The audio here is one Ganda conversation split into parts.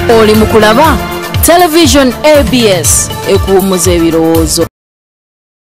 oli mu kulaba television abs ekuwummuza ebirowoozo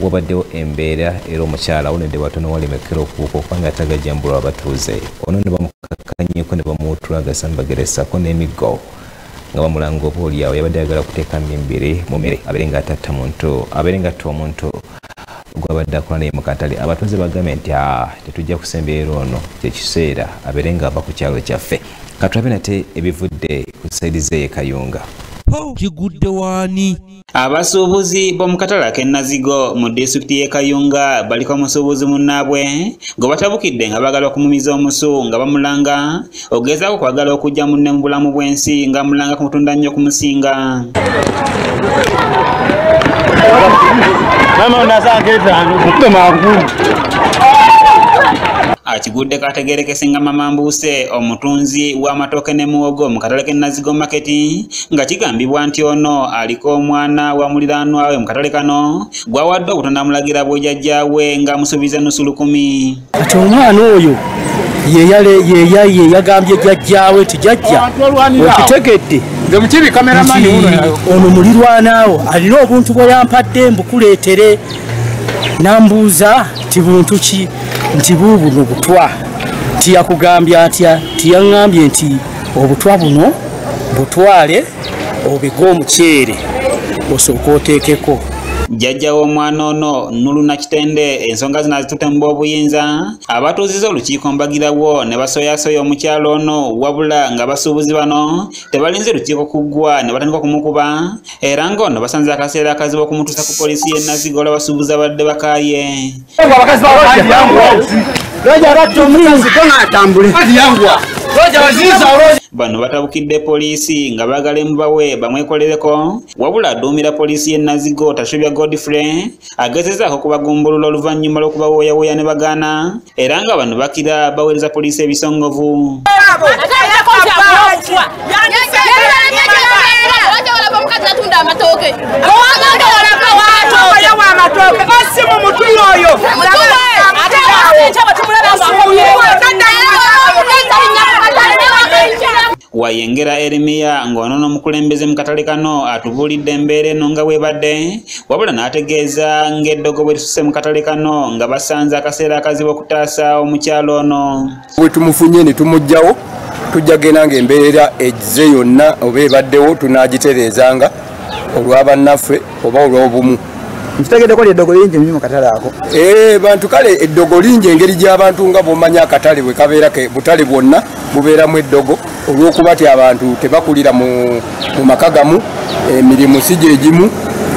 wabaddewo embeera era omukyala awonedde batono walemekera okubuuka okubanga atagajambulwa abatuuze ono ne bamukakkanyeko ne bamuwutula agasambagere ssaako n'emiggo nga bamulanga oba olyawo yabadde ayagala kuteeka mimbiri mu mere abeere nga atatta muntu abeere nga atta omuntu gwabadde akola naye mukatale abatuuze bagambe nti ah, tetujja kusembeera ono kyekiseera abeere nga ava ku kyalo kyaffe katulabe nate ebivudde ku saidi zeye kayunga kigudde waani Abasuubuzi b'omu katala k'e Nazigo mu disitulikiti y'e Kayunga baliko omusuubuzi munnaabwe gwe batabukidde nga baagala okumumiza omusu nga bamulanga ogezaako kwagala okujja munne mu bulamu bw'ensi nga mulanga kumutunda nnyo okumusinga akigudde kategerekese nga mama mbuuse omutunzi w'amatooke ne muwogo mu katale k'e Nazigo maketi nga kigambibwa nti ono aliko omwana wa muliraanwa we mu katale kano gwawadde obutondamulagira bwejajja we nga amusuubiza nusu lukumi kati omwana oyo yeyagambye jajjawe nti jajja okitegedde ono mulirwanaawo alina obuntu bwe yampadde mbukuleetere nambuuza nti buntu ki nti buubuno butwa nti yakugambye atya nti yaŋŋambye nti obutwa buno butwale obige omuceere osooka oteekeko jjajja w'omwana ono nuluna kitende ensonga zino azitutte mu b'obuyinza abatuuziza olukiiko mbagirawo ne basoyasoya omukyalo ono wabula nga basuubuzi bano tebalinze lukiiko kuggwa ne batandika okumukuba era ng'ono basanze akaseera akazibu okumutuusa ku poliisi y'e nazigo olwa basuubuzi abadde bakaaye bano batabukidde poliisi nga baagala emubawe bamwekolereko wabula aduumira poliisi y'e nazigo tashubya godfrey agezezaako okubagumbulula oluvannyuma lw'okubawoyawoya ne bagaana era nga bano bakira baweereza poliisi ebisongovu Wayengera Erimiya ng'ono n'omukulembeze mu katale kano atubuulidde embeera eno nga bwebadde wabula n'ategeeza ng'eddogo bwe lisuse mu katale kano nga basanze akaseera akazibu okutaasa omukyalo ono bwe tumufunye ne tumugjawo tujja genda ng'embeera egize yonna oba ebaddewo tunaagitereezanga olwa bannaffe oba olw'obumu nkitegedeko lyeddogo lingi nyo mukatale ako eh, bantu kale eddogo lingi engeri gy'abantu nga bwomanya akatale bwe kabeera ke butale bwonna bubeeramu eddogo olw'okuba ti abantu tebakulira mu maka gamu emirimu eh, si gye gimu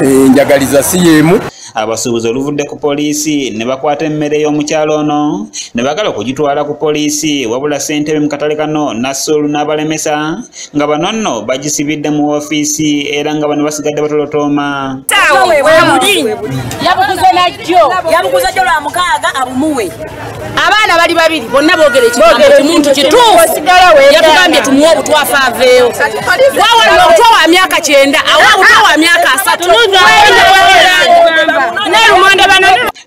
enjagaliza eh, si y'emu Abasuubuzi oluvudde ku poliisi ne bakwata emmere y'omukyalo ono ne bagala okugitwala ku poliisi wabula ssentebe mu katale kano Nasur n'abalemesa nga bano nno bagisibidde mu ofiisi era nga bano basigadde batolotooma. Yabuguze najjo yabuguze jjo lwa mukaaga abumuwe. abaana bali babiri bonna boogera ekimuntu kituuyatugambye tumuwa obutwafa aveewo wawalina obutwa wa myaka kyenda awa obutwa wa myaka asatu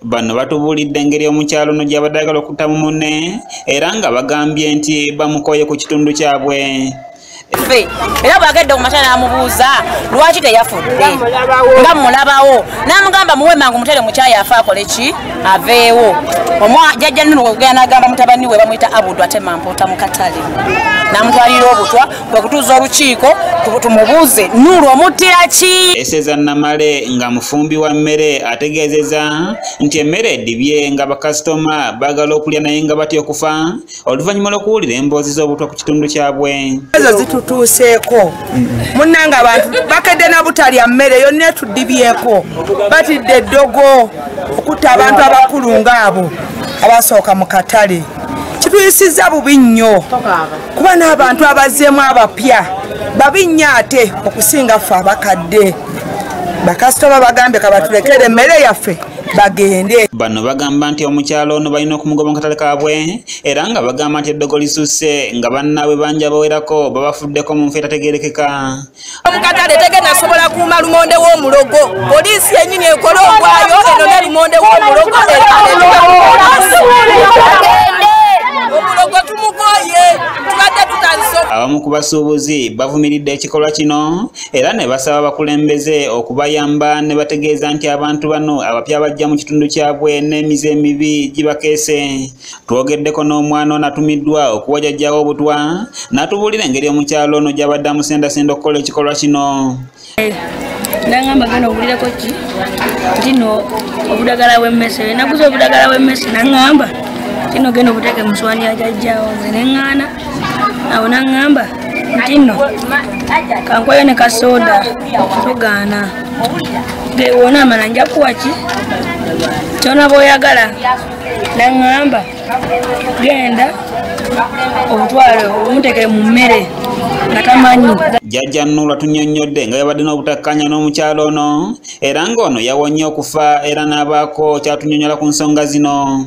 bano batubuulidde engeri omukyalo no gyabadde agala okutamu mune era nga bagambye nti bamukooye ku kitundu kyabwe ffe era bwagedde kumakya namubuuza lwaki teyafudde nga mulabawo namugamba muwe mangu mutere mukyayi afe akole ki aveewo omwajajja nini wegenda nagamba mutabani we bamuyita abudu ate mampuuta mukatale namutwalira obutwa kwekutuuza olukiiko tumubuuze nulu omuttira ki eseza namale nga mufumbi wa mmere ategeezeza nti emmere edibye nga bakasitoma bagala okulya naye nga batya okufa oluvannyuma lw'okuwulira emboozi z'obutwa ku kitundu kyabwe ezo zitutuuseeko munnanga abantu bakedde na butalya mmere yonna etudibyeko batidde eddogo okutta abantu abakulu ng'abo abasooka mu katale kituyisizza bubi nnyo kuba n'abantu abazzeemu abapya babi nnyo ate okusinga ffe abakadde bakasitoma bagambye kabatulekere emmere yaffe bagende bano bagamba nti omukyalo ono balina okumugoba mu katale kaabwe era nga bagamba nti eddogo lisusse nga bannaabwe bangi abawerako babafuddeko mu nfa etategerekeka mu katale tegenda sobola kuuma lumonde w'omulogo poliisi yenyini ekole ogwayo eno ne lumonde w'omulogo abamu ku basuubuzi bavumiridde ekikolwa kino era ne basaba abakulembeze okubayamba ne bategeeza nti abantu bano abapya bajja mu kitundu kyabwe n'emize emibi gibakeese twogeddeko n'omwana onatumiddwa okuwajajjawo obutwa n'atubuulira engeri omukyalo ono gy'abadde amusendasenda okukola ekikolwa kino nangamba gana owulirako ki tino obudagala bwemmese naguza obudagala bwemmese nangamba tino genda obuteeke muswani ajajjawo nze neŋŋaana awo naŋŋamba nti nno kankwayo ne kasooda tugaana gewona amala nja kuwa ki kyona bwoyagala naŋŋamba genda omutwale omutekere mu mmere nga tamanyi jjajja nula tunyonnyodde nga yabadde n'obutakkaanya n'omukyalo ono era ng'ono yawonye okufa era n'abaako kyatunyonyola ku nsonga zino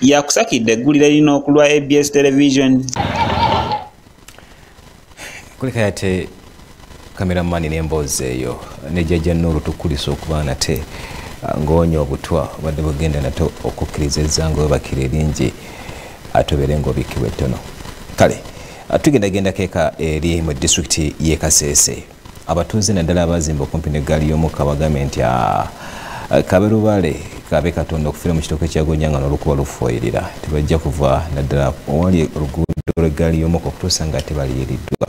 yakusakidde eggulire lino ku lwa abs television kulika yate kameramani n'emboozi eyo ne jajja nuulu tukulisa okuba nate ah, ng'onya obutwa obadde bugenda nate okukkiriza ezzanga webakira eringi atobeere ng'obikkibwa ettono kale ah, tugendagenda keeka eri mu disitulikiti y'e kaseese abatuuze naddala abazimba okumpi ne ggaali y'omukka bagambye nti ah, kabe lubale kabe katonda okufira mu kitooke kyagonya nga nolukuba lufuwayirira tebajja kuva naddala owali oluguudo lw'eggaali y'omukka okutuusa nga tebaliyiriddwa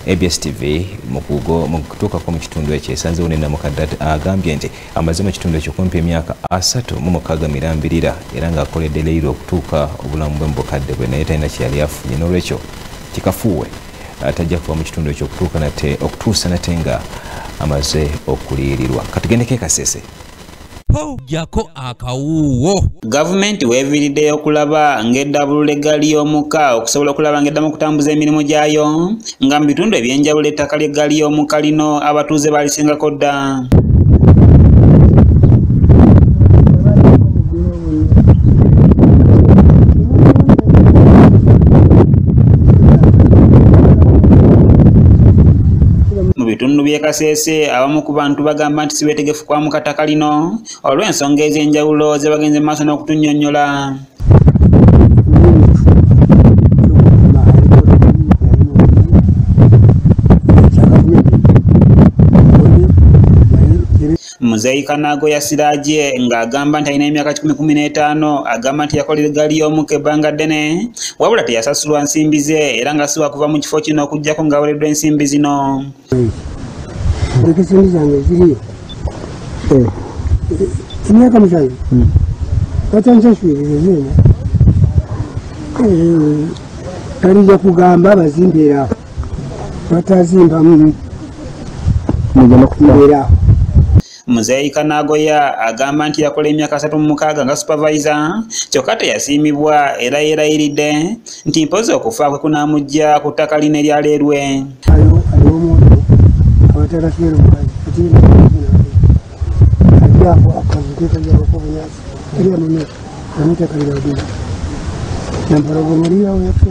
abs tv mukugo mukutuukako mu kitundu ekyo esanzewo ne namukadde agambye nti amaze mu kitundu ekyo kumpi emyaka asatu mu mukaaga mirambirira era ng'akoledde leyiro okutuuka obulamu bwe mu bukadde bwe naye talina kyeyali afunye n'olwekyo kikafuuwe tajja kuva mu kitundu ekyo okutuuka nate okutuusa nate nga amaze okuliyirirwa katugendeko ekasese jako akawuuwo gavumenti weeviiriddeyo okulaba ng'eddabulula eggaali y'omuka okusobola okulaba ng'eddamu okutambuza emirimu gyayo nga mu bitundu eby'enjawulo ettaka ly'eggaali y'omuka lino abatuuze baalisingako dda mu bitundu by'e Kasese abamu ku bantu bagamba nti sibeetegefu kwamuka ttaka lino olw'ensonga ez'enjawulo ze bagenze mu maaso n'okutunnyonnyola Muzeeyi Kanaago ya Siraje ng'agamba nti alina emyaka kikumi kumi n'etaano agamba nti yakolera eggaali y'omukka ebbanga ddene wabula teyasasulwa nsimbi ze era nga siwa kuva mu kifo kino okuggyako ng'awereddwa ensimbi zino emyaka musanvu hmm. batansasulirirezeena eh, eh, eh, talija kugamba bazimbeera batazimbamu mugenda kubeera awo Muzeeyi Kanagoya agamba nti yakola emyaka asatu mu mukaaga nga supavayiza kyokka teyasiimibwa era yeerayiridde nti mpozi okufa kwe kunaamujja ku ttaka line lya leerwe nampala ogwo muliyawo yafe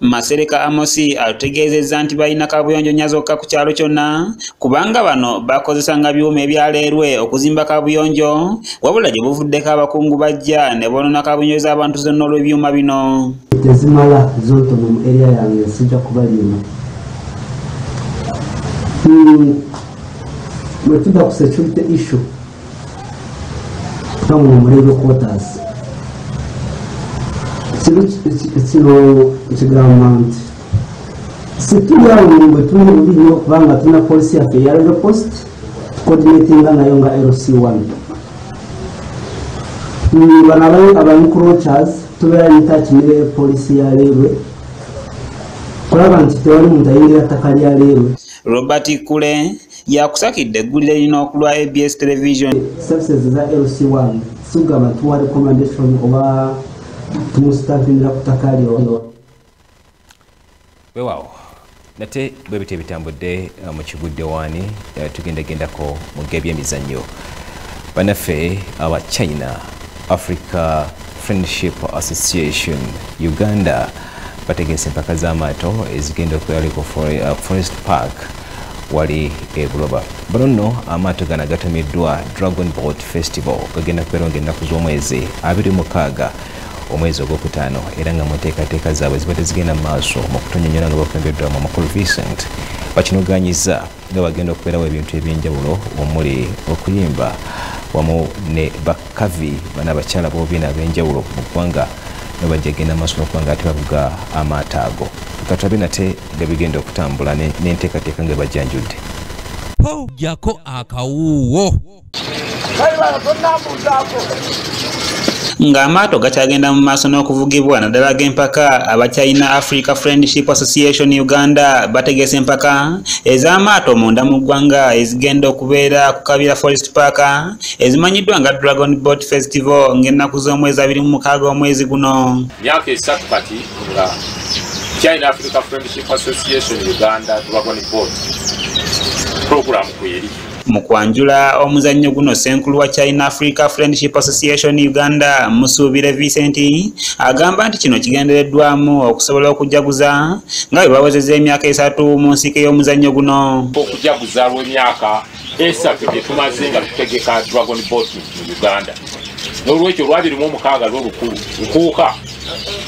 Masereka Amosi atutegeezezza nti balina kaabuyonjo nnya zokka ku kyalo kyonna kubanga bano bakozesanga byuma ebyaleerwe okuzimba kaabuyonjo wabula gye buvuddeko abakungu bajja ne boonona kaabuyonjo z'abantu zonna olw'ebyuma bino tezimala zontono mu eriya yange sijja kubaliima hmm, bwe tuda ku security issue bamuwa omulebe quarters kino kino ekigamba nti situli awo mungwe tuli bubi nnyo kubanga tulina polisi yaffe eya rero post coordinatinga nayo nga lc one bano abancrochers tubeera nitaki ne polisi ya leerwe kulaba nti tewali muntu ayingira ttaka lya leerwe robert kule yakusakidde eggulire lino okulwa abs television services za lc1 sigamba tuwa recommendation oba tumusitampinira ku ttaka lyono wewawo nate bwe bityo ebitambudde uh, mu kigudde waani uh, tugendagendako mu gebyemizannyo banaffe aba china africa Friendship Association Uganda bategese empaka z'amaato ezigenda okweyali ku uh, Forest Park wali e Buloba. Bano nno amaato gano agatumiddwa Dragon Boat Festival gagenda kubeera nga ennaku z'omwezi abiri mukaaga omwezi ogwokutaano era nga mu nteekateeka zaabwe zibadde zigenda mu maaso mu kutunyonyola nga bakulembeddwamu omukulu Vincent bakinoganyiza nga bagenda okubeerawo ebintu ebyenjawulo omuli okuyimba wamu ne bakavi bana bakyala bobiina ab'enjawulo mu ggwanga nga bajja genda maaso nokuba nga ate bavuga amaato ago katulabe nate nga bigenda okutambula n'enteekateeka nga bajjanjudde pawujjako akawuuwo ng'amaato gakyagenda mu maaso n'okuvugibwa naddala g'empaka abakyalina africa friendship association uganda bategese empaka ez'amaato munda mu ggwanga ezigenda okubeera ku kabira forest park ezimanyiddwa nga dragon boat festival ng'ennaku z'omwezi abiri mu mukaaga omwezi guno myaka esatu kati nga china africa friendship association uganda dragon boat program kweri Mu kwanjula omuzannyo guno ssenkulu wa China Africa Friendship Association Uganda Musuubire Vincent agamba nti kino kigendereddwamu okusobola okujaguza nga bwe bawezeza emyaka esatu mu nsiike y'omuzannyo guno okujaguza lw'emyaka esatu gye tumaze nga tutegeka Dragon Boat mu Uganda n'olwekyo olwabiri mu omukaaga lw'olukulu nkuuka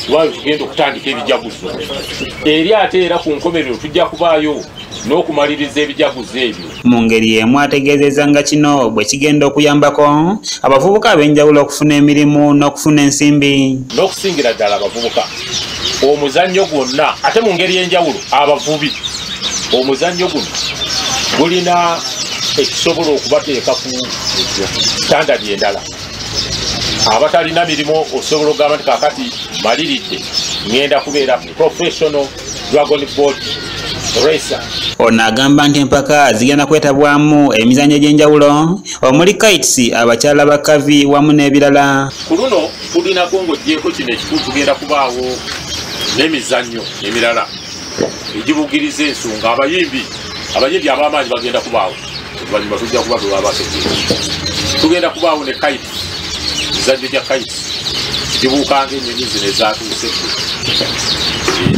lwali tugenda okutandika ebijaguzo eri ate era ku nkomerero tujja kubaayo n'okumaliriza ebijaguzo ebyo Mu ngeri y'emu ategeezezza nga kino bwe kigenda okuyambako abavubuka ab'enjawulo okufuna emirimu n'okufuna ensimbi n'okusingira ddala abavubuka omuzannyo gwonna ate mu ngeri y'enjawulo abavubi omuzannyo guno gulina ekisobola okubateeka ku sitandadi endala abatalina mirimu osobola okugamba nti kakati maliridde ŋenda kubeera professional dragon boat racer. Ono agamba nti empaka zigenda kwetabwamu emizanyo egy'enjawulo omuli kites abakyala ba kavi wamu n'ebirala. Ku luno tulinako ng'ogyeko kino ekikulu tugenda kubaawo n'emizannyo emirala egibugiriza ensonga abayimbi abayimbi ab'amaanyi bagenda kubaawo. oluvannyuma tujja kuba bwe baba bategeera tugenda kubaawo ne kaiti mizannyo gya kaiti gibuukanga ennyonyi zino ezaatuuse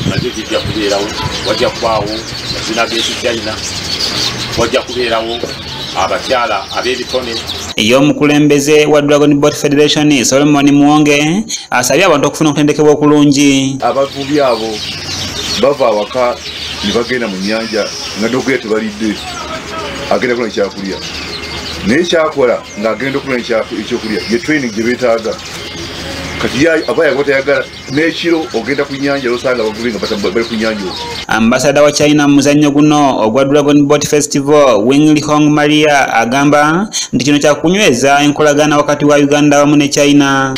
nabyo bijja kubeerawo wajja kubaawo mazina g'ekichina wajja kubeerawo abakyala ab'ebitone ye omukulembeze wa dragon bot federation solomon muwonge asabye abantu okufuna okutendekebwa okulungi abavubi abo bava awaka ne bagenda mu nyanja nga nokuya tebalidde agenda kuna ekyakulya naye kyakola ng'agenda okuna ekyokulya ye training gye beetaaga ambasada wa china mu muzannyo guno ogwa dragon bot festival wingli hong maria agamba nti kino kyakunyweza enkolagana wakati wa uganda wamu ne china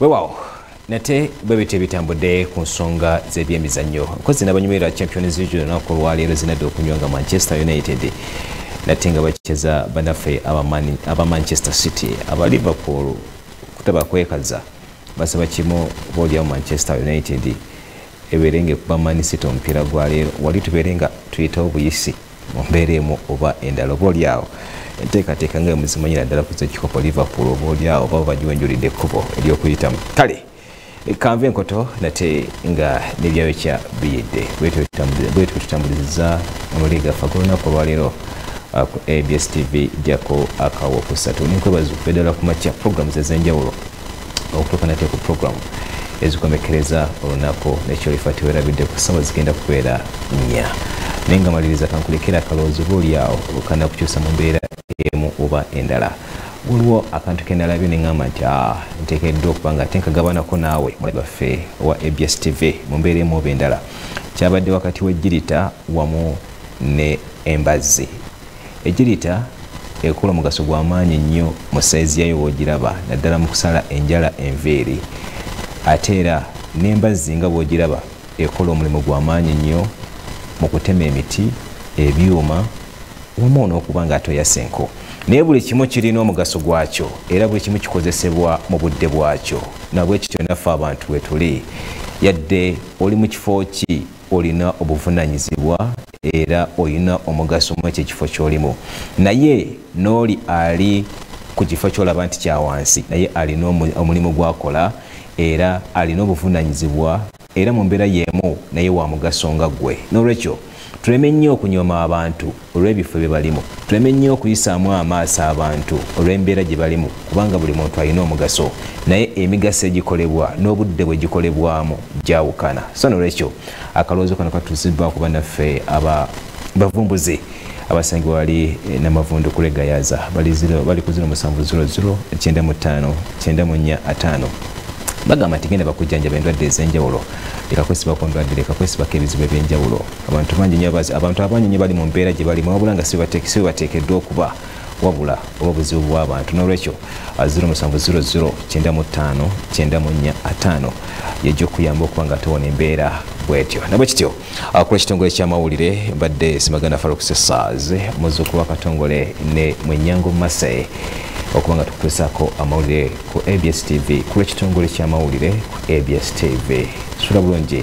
wewawo nate bwe bityo bitambudde ku nsonga z'ebyemizannyo nkozi n'abanyumirwa champions league olunaku olwaleero zinadde okunywa nga manchester united nate nga bakicheza banaffe aba manchester city aba liverpool kutaba kwekaza basaba kimu boolyawo manchester united ebeere nga ekuba manisita omupiira gwaleero wali tubeere nga tuyitawo buyisi mu mbeera emu oba endala oba oli awo enteekateeka nga emuzimanyira ddala kuza ekikopo liverpool oba oli awo oba bagiwenjulidde ekkubo eryokuyitamu kale kanva enkoto nate nga nebyayo kya biyidde bwetyo tutambuliza amawulire gaffe agolunaku olwaleero uh, ku abs tv jako akawo kusatu nenkwebaza okubeddala ku makya programu zezenjawulo okutuuka nate ku puroguramu ezikomekkereza olunaku nekyolifa tewerabidde ku ssaawa zigenda kubeera nnya naye nga maliriza kankulekera akalowoozo oba olyawo olukana kukyusa mu mbeera emu oba endala waliwo akantu kenalabye neŋamba nti ah, ntekeddwa okuba nga tenkagabanako naawe mulabaffe owa abs tv mu mbeera emu oba endala kyabadde wakati w'ejjirita wamu ne embazzi Ejirita ekola omugaso gwa maanyi nnyo mu sayizi yayo bw'ogiraba naddala mu kusala enjala enviiri ate era n'embazzi nga bw'ogiraba ekola omulimu gwa maanyi nnyo mu kutema emiti ebyuma wamu n'okuba nga atoyasa enku naye buli kimu kirina omugaso gwakyo era buli kimu kikozesebwa mu budde bwakyo nabwekityo naffe abantu wetuli yadde oli mu kifo ki olina obuvunanyizibwa era olina omugaso mu ekyo ekifo kyolimu naye n'oli ali ku kifo kyolaba nti kyawansi naye alina omulimu gwakola era alina obuvunanyizibwa era mu mbeera yeemu naye wa mugaso nga ggwe n'olwekyo tuleme nnyo okunyooma abantu olw'ebifo bye balimu tuleme nnyo okuyisaamu amaaso abantu olw'embeera gye balimu kubanga buli muntu alina omugaso naye emigaso egikolebwa n'obudde bwe gikolebwamu gyawukana so nolwekyo akalowoozo kano katuusiddwa ku banaffe aba bavumbuzi abasangi wali eh, namavundu kulegayaza bali ku ziro musanvu ziro ziro kyenda mu ttaano kyenda mu nnya ataano bagamba nti genda bakujjanjaba endwadde ez'enjawulo leka kwesibako ndwadde leka kwesibako ebizibu eby'enjawulo abantu bangi nyo abazi abantu abangi nyo bali mu mbeera gye balimu wabula nga sibateekeddwa okuba wabula oba buzibu bw'abantu n'olwekyo 07009594 yejja okuyamba okuba nga tewona embeera bwetyo nabwe kityo akula ah, ekitongole ky'amawulire mbadde simaganda faruk sesaz muzuukulu wakatongole ne mwenyango mase okuba nga tukutuusaako amawulire ku abs tv kulwekitongole ky'amawulire ku abs tv sula bulungi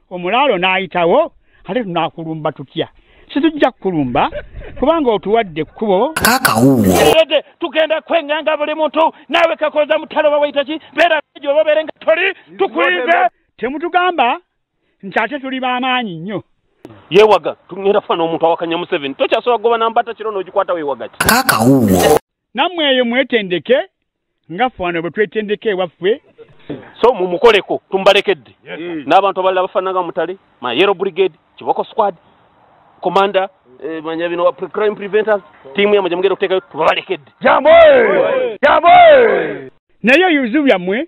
omulaalo n'ayitawo ate tunaakulumba tutya situjja kukulumba kubanga otuwadde ekkubo kakawuwo tugenda kwenganga buli muntu naawe kakoza mutalo bawaita ki beera ejo oba obeere nga toli tukulinze temutugamba nti ate tuli b'amaanyi nnyo yewaga tugenda fana omuntu awakanya museveni tokyasobola kugoba nambata kiro n'ogikwata wewaga ki kakawuwo nammwe eyo mwetendeke nga ffe wano bwe twetendeka ewaffe so mumukoleko tumbalekedde mm. n'abantu abalala bafaananga mutale ma yero brigade kiboko squad commander eh, manya bino crime preventers tiimu yamwe gyemugenda okuteekayo tubalekedde jambo jambo naye ebizibu byammwe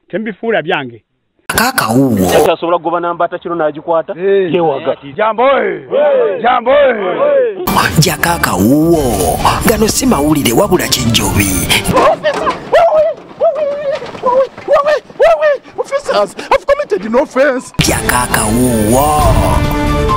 temubifuula byange kaka uwo kati asobola kugoba namba atakiro n'agikwata yewaga jambo jambo ja kaka uwo gano si mawulire wabula kijjobi Officers, I've committed an offense. Ja kaka uwo.